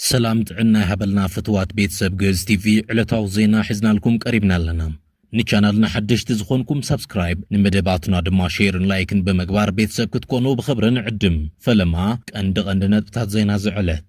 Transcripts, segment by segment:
ሰላም ጥዕና ይሃበልና ፍትዋት ቤተሰብ ግእዝ ቲቪ ዕለታዊ ዜና ሒዝናልኩም ቀሪብና ኣለና ንቻናልና ሓደሽቲ ዝኾንኩም ሳብስክራይብ ንመደባትና ድማ ሼርን ላይክን ብምግባር ቤተሰብ ክትኮኑ ብኽብሪ ንዕድም ፈለማ ቀንዲ ቀንዲ ነጥብታት ዜና ዝዕለት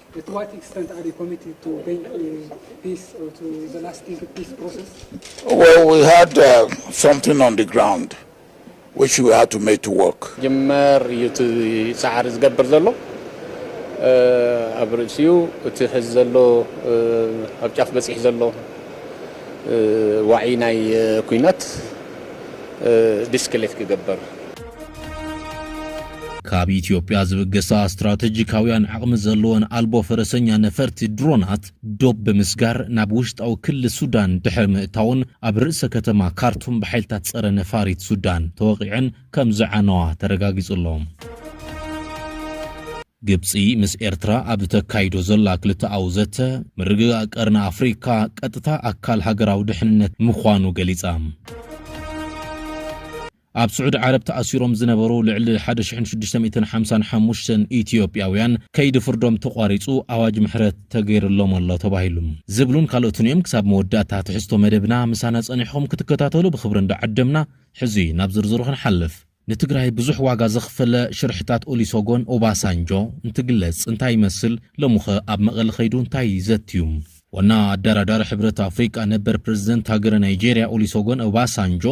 ጅመር እዩ እቲ ጻዕሪ ዝገብር ዘሎ ኣብ ርእሲኡ እቲ ሕዚ ዘሎ ኣብ ጫፍ በጺሑ ዘሎ ዋዒ ናይ ኩናት ዲስክሌት ክገበር። ካብ ኢትዮጵያ ዝብገሳ ስትራተጂካውያን ዓቕሚ ዘለወን ኣልቦ ፈረሰኛ ነፈርቲ ድሮናት ዶብ ብምስጋር ናብ ውሽጣዊ ክሊ ሱዳን ድሕሪ ምእታውን ኣብ ርእሰ ከተማ ካርቱም ብሓይልታት ጸረ ነፋሪት ሱዳን ተወቒዐን ከም ዝዓነዋ ተረጋጊጹ ኣሎ። ግብጺ ምስ ኤርትራ ኣብ እተካይዶ ዘላ ክልተኣዊ ዘተ ምርግጋእ ቀርኒ ኣፍሪካ ቀጥታ ኣካል ሃገራዊ ድሕንነት ምዃኑ ገሊጻ። ኣብ ስዑዲ ዓረብ ተኣሲሮም ዝነበሩ ልዕሊ ሓደ ሽሕን ሽዱሽተ ሚእትን ሓምሳን ሓሙሽተን ኢትዮጵያውያን ከይዲ ፍርዶም ተቋሪፁ ኣዋጅ ምሕረት ተገይርሎም ኣሎ ተባሂሉ። ዝብሉን ካልኦትን እዮም። ክሳብ መወዳእታ ትሕዝቶ መደብና ምሳና ፀኒሕኹም ክትከታተሉ ብኽብሪ እንዳዓደምና ሕዚ ናብ ዝርዝሩ ክንሓልፍ። ንትግራይ ብዙሕ ዋጋ ዘኽፈለ ሽርሕታት ኦሊሶጎን ኦባሳንጆ እንትግለፅ እንታይ ይመስል? ሎሚኸ ኣብ መቐለ ከይዱ እንታይ ዘትዩ? ዋና ኣደራዳሪ ሕብረት ኣፍሪካ ነበር ፕረዚደንት ሃገረ ናይጀሪያ ኦሊሶጎን ኦባሳንጆ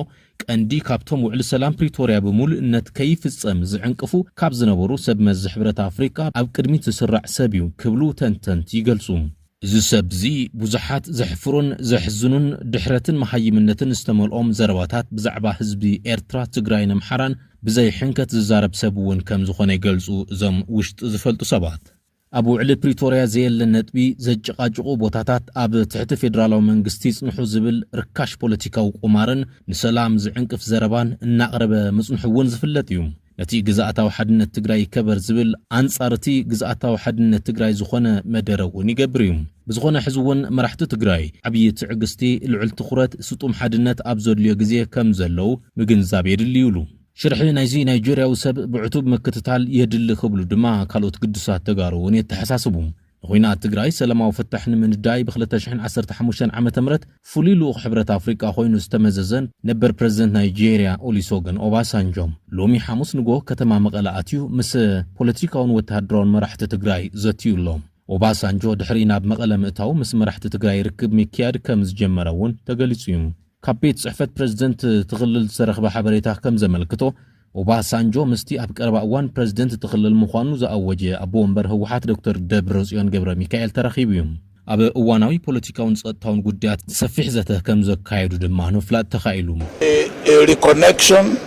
ቀንዲ ካብቶም ውዕሊ ሰላም ፕሪቶርያ ብምሉእነት ከይፍፀም ዝዕንቅፉ ካብ ዝነበሩ ሰብ መዚ ሕብረት ኣፍሪካ ኣብ ቅድሚት ዝስራዕ ሰብ ዩ ክብሉ ተንተንቲ ይገልፁ። እዚ ሰብ እዚ ብዙሓት ዘሕፍሩን ዘሕዝኑን ድሕረትን መሃይምነትን ዝተመልኦም ዘረባታት ብዛዕባ ህዝቢ ኤርትራ፣ ትግራይን ኣምሓራን ብዘይሕንከት ዝዛረብ ሰብ ውን ከምዝኾነ ይገልፁ እዞም ውሽጢ ዝፈልጡ ሰባት። ኣብ ውዕሊ ፕሪቶርያ ዘየለ ነጥቢ ዘጨቓጭቑ ቦታታት ኣብ ትሕቲ ፌደራላዊ መንግስቲ ይፅንሑ ዝብል ርካሽ ፖለቲካዊ ቁማርን ንሰላም ዝዕንቅፍ ዘረባን እናቕረበ ምፅንሑ እውን ዝፍለጥ እዩ። ነቲ ግዝኣታዊ ሓድነት ትግራይ ይከበር ዝብል ኣንፃር እቲ ግዝኣታዊ ሓድነት ትግራይ ዝኾነ መደረ እውን ይገብር እዩ። ብዝኾነ ሕዚ እውን መራሕቲ ትግራይ ዓብዪ ትዕግስቲ፣ ልዑል ትኹረት፣ ስጡም ሓድነት ኣብ ዘድልዮ ግዜ ከም ዘለዉ ምግንዛብ የድሊ ይብሉ። ሽርሒ ናይዚ ናይ ጁርያዊ ሰብ ብዕቱብ ምክትታል የድሊ ክብሉ ድማ ካልኦት ግዱሳት ተጋሩ እውን የተሓሳስቡ። ንኹናት ትግራይ ሰላማዊ ፍታሕ ንምንዳይ ብ ክልተ ሽሕን ዓሰርተ ሓሙሽተን ዓመተ ምህረት ፍሉይ ልኡኽ ሕብረት ኣፍሪቃ ኮይኑ ዝተመዘዘ ነበር ፕረዚደንት ናይጀርያ ኦሊሶገን ኦባሳንጆ ሎሚ ሓሙስ ንግሆ ከተማ መቐለ ኣትዩ ምስ ፖለቲካውን ወተሃደራውን መራሕቲ ትግራይ ዘትዩ ኣሎ። ኦባሳንጆ ድሕሪ ናብ መቐለ ምእታዉ ምስ መራሕቲ ትግራይ ርክብ ምክያድ ከም ዝጀመረ እውን ተገሊፁ እዩ። ካብ ቤት ፅሕፈት ፕረዚደንት እቲ ክልል ዝተረኽበ ሓበሬታ ከም ዘመልክቶ ኦባሳንጆ ምስቲ ኣብ ቀረባ እዋን ፕረዚደንት እቲ ክልል ምዃኑ ዝኣወጀ ኣቦ ወንበር ህወሓት ዶክተር ደብረፅዮን ገብረሚካኤል ተራኺቡ እዩ። ኣብ እዋናዊ ፖለቲካውን ፀጥታውን ጉዳያት ሰፊሕ ዘተ ከም ዘካየዱ ድማ ንምፍላጥ ተኻኢሉ።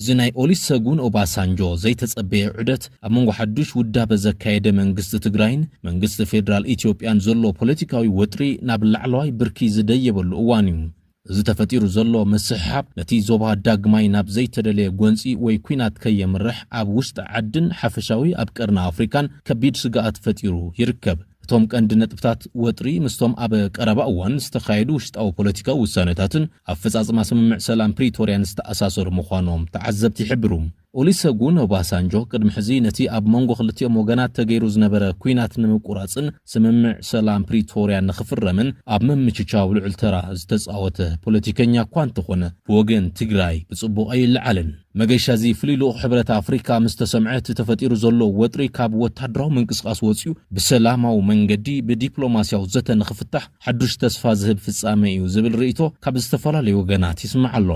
እዚ ናይ ኦሊሰጉን ኦባሳንጆ ዘይተጸበየ ዑደት፣ ኣብ መንጎ ሓዱሽ ውዳበ ዘካየደ መንግስቲ ትግራይን መንግስቲ ፌደራል ኢትዮጵያን ዘሎ ፖለቲካዊ ወጥሪ ናብ ላዕለዋይ ብርኪ ዝደየበሉ እዋን እዩ። እዚ ተፈጢሩ ዘሎ ምስሕሓብ፣ ነቲ ዞባ ዳግማይ ናብ ዘይተደለየ ጎንጺ ወይ ኲናት ከየምርሕ ኣብ ውሽጢ ዓድን ሓፈሻዊ ኣብ ቀርኒ ኣፍሪካን ከቢድ ስግኣት ፈጢሩ ይርከብ። እቶም ቀንዲ ነጥብታት ወጥሪ ምስቶም ኣብ ቀረባ እዋን ዝተኻየዱ ውሽጣዊ ፖለቲካዊ ውሳነታትን ኣፈፃፅማ ስምምዕ ሰላም ፕሪቶርያን ዝተኣሳሰሩ ምዃኖም ተዓዘብቲ ይሕብሩ። ኦሊሰጉን ኦባሳንጆ ቅድሚ ሕዚ ነቲ ኣብ መንጎ ክልቲኦም ወገናት ተገይሩ ዝነበረ ኲናት ንምቁራፅን ስምምዕ ሰላም ፕሪቶርያ ንኽፍረምን ኣብ ምምችቻው ልዑል ተራ ዝተፃወተ ፖለቲከኛ እኳ እንተኾነ ብወገን ትግራይ ብፅቡቕ ኣይለዓልን። መገሻ እዚ ፍሉይ ልኡኽ ሕብረት ኣፍሪካ ምስ ተሰምዐ እቲ ተፈጢሩ ዘሎ ወጥሪ ካብ ወታደራዊ ምንቅስቓስ ወፂኡ ብሰላማዊ መንገዲ ብዲፕሎማሲያዊ ዘተ ንኽፍታሕ ሓዱሽ ተስፋ ዝህብ ፍፃመ እዩ ዝብል ርኢቶ ካብ ዝተፈላለዩ ወገናት ይስማዕ ኣሎ።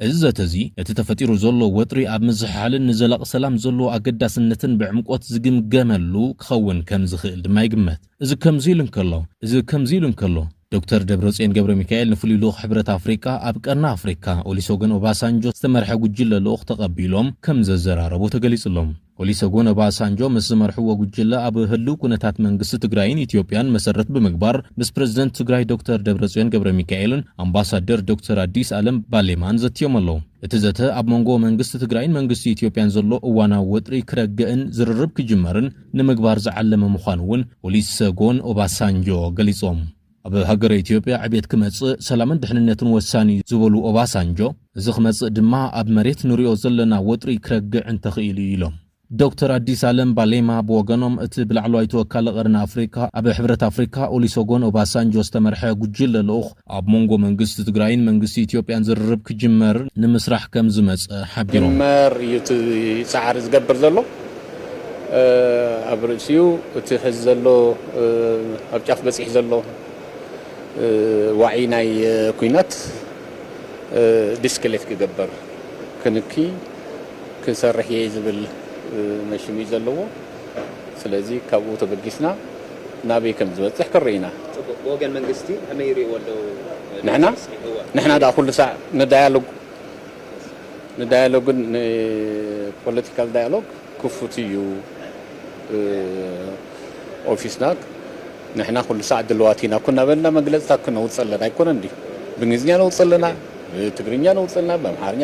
እዚ ዘተ እዚ ነቲ ተፈጢሩ ዘሎ ወጥሪ ኣብ ምዝሕሓልን ንዘላቒ ሰላም ዘለዎ ኣገዳስነትን ብዕምቆት ዝግምገመሉ ክኸውን ከምዝኽእል ድማ ይግመት። እዚ ከምዚ ኢሉ እንከሎ እዚ ከምዚ ኢሉ እንከሎ፣ ዶክተር ደብረጽዮን ገብረሚካኤል ንፍሉይ ልኡኽ ሕብረት ኣፍሪቃ ኣብ ቀርኒ ኣፍሪካ ኦሊሰጎን ኦባሳንጆ ዝተመርሐ ጉጅለ ልኡኽ ተቐቢሎም ከምዘዘራረቡ ተገሊጹ'ሎ። ኦሊሰጎን ኦባሳንጆ ምስ ዝመርሕዎ ጉጅለ ኣብ ህሉው ኩነታት መንግስቲ ትግራይን ኢትዮጵያን መሰረት ብምግባር ምስ ፕረዚደንት ትግራይ ዶክተር ደብረጽዮን ገብረሚካኤልን ኣምባሳደር ዶክተር ኣዲስ ኣለም ባሌማን ዘትዮም ኣለው። እቲ ዘተ ኣብ መንጎ መንግስቲ ትግራይን መንግስቲ ኢትዮጵያን ዘሎ እዋናዊ ወጥሪ ክረግእን ዝርርብ ክጅመርን ንምግባር ዝዓለመ ምዃኑ እውን ኦሊሰጎን ኦባሳንጆ ገሊፆም። ኣብ ሃገረ ኢትዮጵያ ዕቤት ክመፅእ ሰላምን ድሕንነትን ወሳኒ እዩ ዝበሉ ኦባሳንጆ፣ እዚ ክመፅእ ድማ ኣብ መሬት ንሪኦ ዘለና ወጥሪ ክረግዕ እንተኽኢሉ እዩ ኢሎም። ዶክተር ኣዲስ ኣለም ባሌማ ብወገኖም፣ እቲ ብላዕለዋይ ተወካሊ ቀርኒ ኣፍሪካ ኣብ ሕብረት ኣፍሪካ ኦሊሰጎን ኦባሳንጆ ዝተመርሐ ጉጅለ ልኡኽ፣ ኣብ መንጎ መንግስቲ ትግራይን መንግስቲ ኢትዮጵያን ዝርርብ ክጅመር ንምስራሕ ከምዝመፀ ሓቢሮም። ክጅመር እዩ እቲ ፃዕሪ ዝገብር ዘሎ። ኣብ ርእሲኡ እቲ ሕዚ ዘሎ ኣብ ጫፍ በፂሑ ዘሎ ዋዒ ናይ ኩናት ዲስክሌት ክገበር ክንኪ ክሰርሕ እየ ዝብል መሽም እዩ ዘለዎ። ስለዚ ካብኡ ተበጊስና ናበይ ከም ዝበጽሕ ክንርኢ ኢና። ጽቡቕ፣ ብወገን መንግስቲ ከመይ ይርእይዎ ኣለዉ ነዚ ዕስኪ? እወ። ንሕና ድኣ ኩሉ ሳዕ ንዳያሎግ ንዳያሎግን ንፖለቲካል ዳያሎግ ክፉት እዩ ኦፊስና፣ ንሕና ኩሉ ሳዕ ድልዋት ኢና እኮ እናበልና መግለጽታት ክነውጽእ ኣለና ኣይኮነን ድዩ? ብእንግሊዝኛ ነውጽእ ኣለና፣ ብትግርኛ ነውጽእ ኣለና፣ ብኣምሓርኛ፣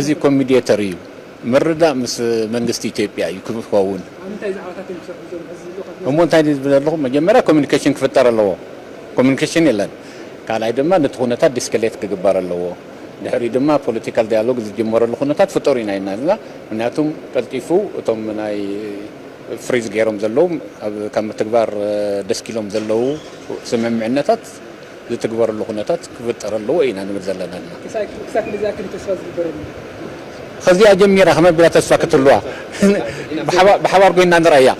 እዚ ኮሚዴተር እዩ ምርዳእ ምስ መንግስቲ ኢትዮጵያ እዩ ክኸውን እሞ እንታይ ዝብል ዘለኹ መጀመርያ ኮሚኒኬሽን ክፍጠር ኣለዎ ኮሚኒኬሽን የለን ካልኣይ ድማ ነቲ ኩነታት ዲስከሌት ክግበር ኣለዎ ድሕሪኡ ድማ ፖለቲካል ዳያሎግ ዝጅመረሉ ኩነታት ፍጠሩ ኢና ኢልና ዘለና ምክንያቱ ቀልጢፉ እቶም ናይ ፍሪዝ ገይሮም ዘለዉ ካብ ምትግባር ደስኪሎም ዘለዉ ስምምዕነታት ዝትግበረሉ ኩነታት ክፍጠር ኣለዎ ኢና ንብል ዘለና እና። ክሳብ ክንደይ ዝኣክል እዩ ተስፋ ዝግበረሉ? ከዚኣ ጀሚራ ከመይ ኣቢላ ተስፋ ክትህልዋ ብሓባር ኮይንና ንርኣያ።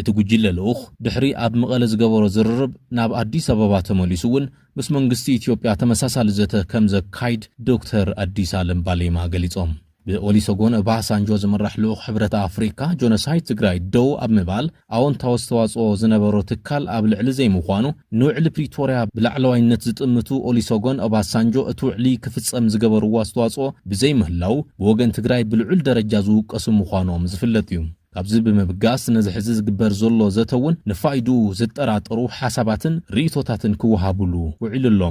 እቲ ጉጅለ ልኡኽ ድሕሪ ኣብ መቐለ ዝገበሮ ዝርርብ ናብ ኣዲስ ኣበባ ተመሊሱ እውን ምስ መንግስቲ ኢትዮጵያ ተመሳሳሊ ዘተ ከምዘካይድ ዶክተር ኣዲስ ኣለም ባሌማ ገሊፆም። ብኦሊሰጎን ኦባሳንጆ ዝምራሕ ልኡኽ ሕብረት ኣፍሪካ ጆኖሳይድ ትግራይ ደው ኣብ ምባል ኣወንታዊ ኣስተዋፅኦ ዝነበሮ ትካል ኣብ ልዕሊ ዘይምዃኑ ንውዕሊ ፕሪቶርያ ብላዕለዋይነት ዝጥምቱ ኦሊሰጎን ኦባሳንጆ እቲ ውዕሊ ክፍፀም ዝገበርዎ ኣስተዋፅኦ ብዘይምህላው ብወገን ትግራይ ብልዑል ደረጃ ዝውቀሱ ምዃኖም ዝፍለጥ እዩ። ካብዚ ብምብጋስ ነዚ ሕዚ ዝግበር ዘሎ ዘተ እውን ንፋይድኡ ዝጠራጠሩ ሓሳባትን ርእይቶታትን ክወሃቡሉ ውዒሉ ኣሎ።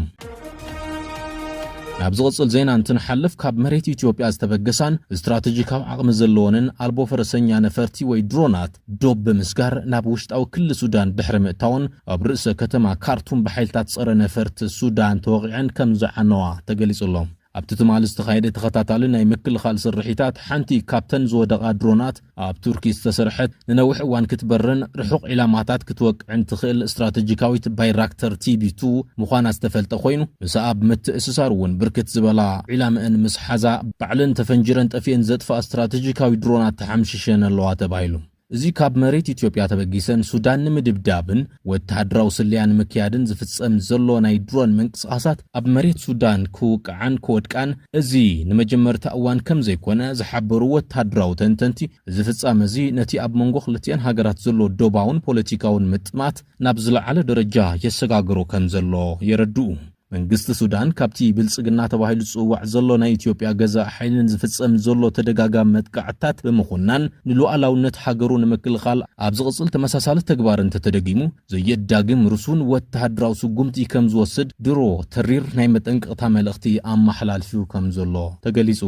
ናብ ዝቕጽል ዜና እንትንሓልፍ ካብ መሬት ኢትዮጵያ ዝተበገሳን ስትራተጂካዊ ዓቕሚ ዘለወንን ኣልቦ ፈረሰኛ ነፈርቲ ወይ ድሮናት ዶብ ብምስጋር ናብ ውሽጣዊ ክሊ ሱዳን ድሕሪ ምእታወን ኣብ ርእሰ ከተማ ካርቱም ብሓይልታት ጸረ ነፈርቲ ሱዳን ተወቒዐን ከም ዝዓነዋ ተገሊጹ ኣሎ። ኣብቲ ትማሊ ዝተኻየደ ተኸታታሊ ናይ ምክልኻል ስርሒታት፣ ሓንቲ ካብተን ዝወደቓ ድሮናት፣ ኣብ ቱርኪ ዝተሰርሐት፣ ንነዊሕ እዋን ክትበርን ርሑቕ ዒላማታት ክትወቅዕን ትኽእል ስትራተጂካዊት ባይራክተር ቲቢ ቱ ምዃና ዝተፈልጠ ኮይኑ፣ ምስኣ ብምትእስሳር እውን ብርክት ዝበላ ዒላምእን ምስ ሓዛ፣ ባዕለን ተፈንጂረን ጠፊኤን ዘጥፍኣ ስትራተጂካዊ ድሮናት ተሓምሺሸን ኣለዋ ተባሂሉ። እዚ ካብ መሬት ኢትዮጵያ ተበጊሰን ሱዳን ንምድብዳብን ወተሃደራዊ ስለያ ንምክያድን ዝፍጸም ዘሎ ናይ ድሮን ምንቅስቓሳት ኣብ መሬት ሱዳን ክውቅዓን ክወድቃን እዚ ንመጀመርታ እዋን ከምዘይኮነ ዝሓበሩ ወተሃደራዊ ተንተንቲ፣ እዚ ፍጻመ'ዚ ነቲ ኣብ መንጎ ክልቲኣን ሃገራት ዘሎ ዶባውን ፖለቲካውን ምጥማት ናብ ዝለዓለ ደረጃ የሰጋግሮ ከምዘሎ የረድኡ። መንግስቲ ሱዳን ካብቲ ብልጽግና ተባሂሉ ዝጽዋዕ ዘሎ ናይ ኢትዮጵያ ገዛኢ ሓይልን ዝፍጸም ዘሎ ተደጋጋሚ መጥቃዕትታት ብምኹናን ንሉኣላውነት ሃገሩ ንምክልኻል ኣብ ዝቕጽል ተመሳሳሊ ተግባር እንተተደጊሙ ዘየዳግም ርሱን ወተሃደራዊ ስጉምቲ ከምዝወስድ ድሮ ተሪር ናይ መጠንቀቕታ መልእኽቲ ኣመሓላልፊ ከምዘሎ ተገሊጹ።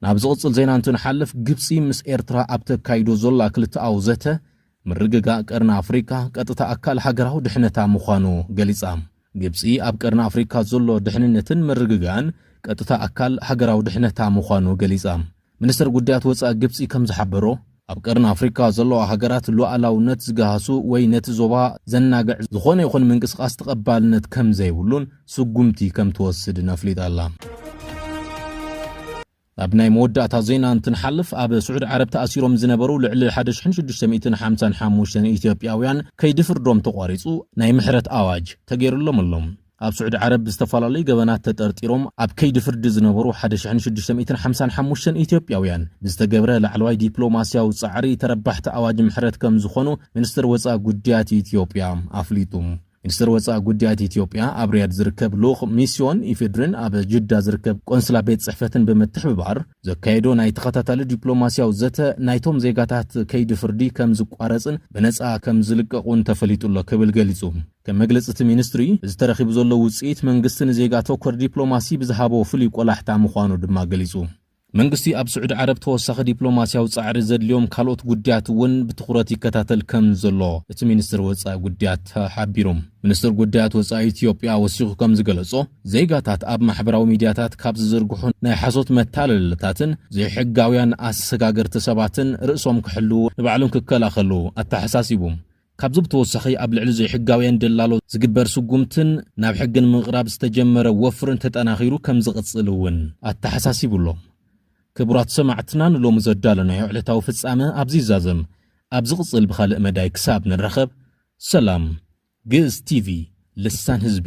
ናብ ዝቕጽል ዜና እንትንሓልፍ፣ ግብጺ ምስ ኤርትራ ኣብ ተካይዶ ዘላ ክልተኣዊ ዘተ፣ ምርግጋእ ቀርኒ ኣፍሪቃ ቀጥታ ኣካል ሃገራዊ ድሕነታ ምዃኑ ገሊጻ። ግብጺ ኣብ ቀርኒ ኣፍሪካ ዘሎ ድሕንነትን ምርግጋእን ቀጥታ ኣካል ሃገራዊ ድሕነታ ምዃኑ ገሊጻ። ሚኒስተር ጉዳያት ወጻኢ ግብጺ ከም ዝሓበሮ፣ ኣብ ቀርኒ ኣፍሪካ ዘለዋ ሃገራት ሉኣላውነት ዝገሃሱ ወይ ነቲ ዞባ ዘናግዕ ዝኾነ ይኹን ምንቅስቓስ ተቐባልነት ከምዘይብሉን ስጉምቲ ከምትወስድን ኣፍሊጣ ኣላ። ናብ ናይ መወዳእታ ዜና እንትንሓልፍ ኣብ ስዑድ ዓረብ ተኣሲሮም ዝነበሩ ልዕሊ 1655 ኢትዮጵያውያን ከይዲ ፍርዶም ተቋሪፁ ናይ ምሕረት ኣዋጅ ተገይሩሎም ኣሎ። ኣብ ስዑዲ ዓረብ ብዝተፈላለዩ ገበናት ተጠርጢሮም ኣብ ከይዲ ፍርዲ ዝነበሩ ሓደ ሽሕን ሽዱሽተ ሚእትን ሓምሳን ሓሙሽተን ኢትዮጵያውያን ብዝተገብረ ላዕለዋይ ዲፕሎማስያዊ ፃዕሪ ተረባሕቲ ኣዋጅ ምሕረት ከም ዝኾኑ ሚኒስትር ወፃኢ ጉዳያት ኢትዮጵያ ኣፍሊጡ። ሚኒስትር ወፃኢ ጉዳያት ኢትዮጵያ ኣብ ሪያድ ዝርከብ ልኡኽ ሚስዮን ኢፌድሪን ኣብ ጅዳ ዝርከብ ቆንስላ ቤት ፅሕፈትን ብምትሕብባር ዘካየዶ ናይ ተኸታታሊ ዲፕሎማስያዊ ዘተ ናይቶም ዜጋታት ከይዲ ፍርዲ ከም ዝቋረፅን ብነፃ ከም ዝልቀቑን ተፈሊጡ ኣሎ ክብል ገሊፁ። ከም መግለጺ እቲ ሚኒስትሪ፣ እዚ ተረኺቡ ዘሎ ውጽኢት፣ መንግስቲ ንዜጋ ተኮር ዲፕሎማሲ ብዝሃቦ ፍሉይ ቆላሕታ ምዃኑ ድማ ገሊጹ። መንግስቲ ኣብ ስዑዲ ዓረብ ተወሳኺ ዲፕሎማስያዊ ጻዕሪ ዘድልዮም ካልኦት ጉዳያት እውን ብትኹረት ይከታተል ከም ዘሎ እቲ ሚኒስትር ወጻኢ ጉዳያት ሓቢሩ። ሚኒስትር ጉዳያት ወጻኢ ኢትዮጵያ ወሲኹ ከም ዝገለጾ፣ ዜጋታት ኣብ ማሕበራዊ ሚድያታት ካብ ዝዝርግሑ ናይ ሓሶት መታለልታትን ዘይሕጋውያን ኣሰጋገርቲ ሰባትን ርእሶም ክሕልዉ ንባዕሎም ክከላኸሉ ኣተሓሳሲቡ። ካብዚ ብተወሳኺ ኣብ ልዕሊ ዘይሕጋውያን ደላሎ ዝግበር ስጉምትን ናብ ሕጊ ንምቕራብ ዝተጀመረ ወፍርን ተጠናኺሩ ከምዝቕፅል እውን ኣተሓሳሲቡ ኣሎ። ክቡራት ሰማዕትና ንሎሚ ዘዳለናዮ ዕለታዊ ፍፃመ ኣብዚ ይዛዘም። ኣብ ዝቕፅል ብኻልእ መዳይ ክሳብ ንራኸብ ሰላም። ግእዝ ቲቪ ልሳን ህዝቢ።